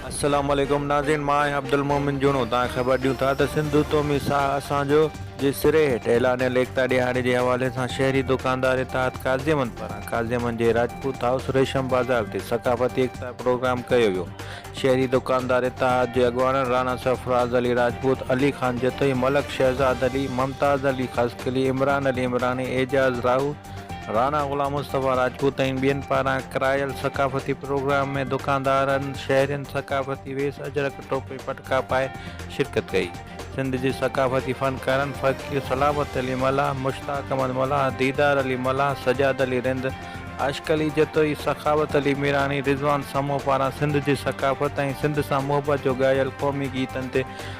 السلام عليڪم ناظرين مان آهيان عبدالمومن جوڻو توهان کي خبر ڏيون ٿا ته سنڌو تومي ساهه اسان جو جي سري هيٺ اعلانيل ايڪتا ڏهاڙي جي حوالي سان شهري دڪاندار اتحاد قاضيمن پاران قاضيمن جي راجپوت هائوس ريشم بازار تي ثقافتي ايڪتا پروگرام ڪيو ويو شهري دڪاندار اتحاد جي اڳواڻن راڻا سرفراز علي راجپوت علي خان جتوئي ملڪ شهزاد علي ممتاز علي خاصخيلي عمران علي عمراڻي اعجاز راهو راڻا غلام مصطفيٰ راجپوت ۽ ٻين پاران ڪرايل ثقافتي پروگرام ۾ دڪاندارن شهرين ثقافتي ويس اجرڪ ٽوپي پٽڪا پائي شرڪت ڪئي سنڌ جي ثقافتي فنڪارن فقير سلامت علي ملاح مشتاق احمد ملاح ديدار علي ملاح سجاد علي رند عاشق علي جتوئي سخاوت علي ميراڻي رضوان سمون پاران سنڌ جي ثقافت ۽ سنڌ سان محبت جو ڳايل قومي گيتن تي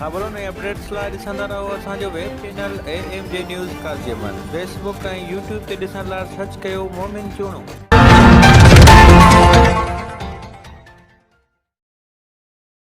خبرن ۽ اپڊيٽس لاء ڏسندا رهو اسان جو web channel A M G news Qazi Ahmed Facebook ۽ YouTube تي ڏسڻ لاء سرچ ڪيو مومن چوڻو.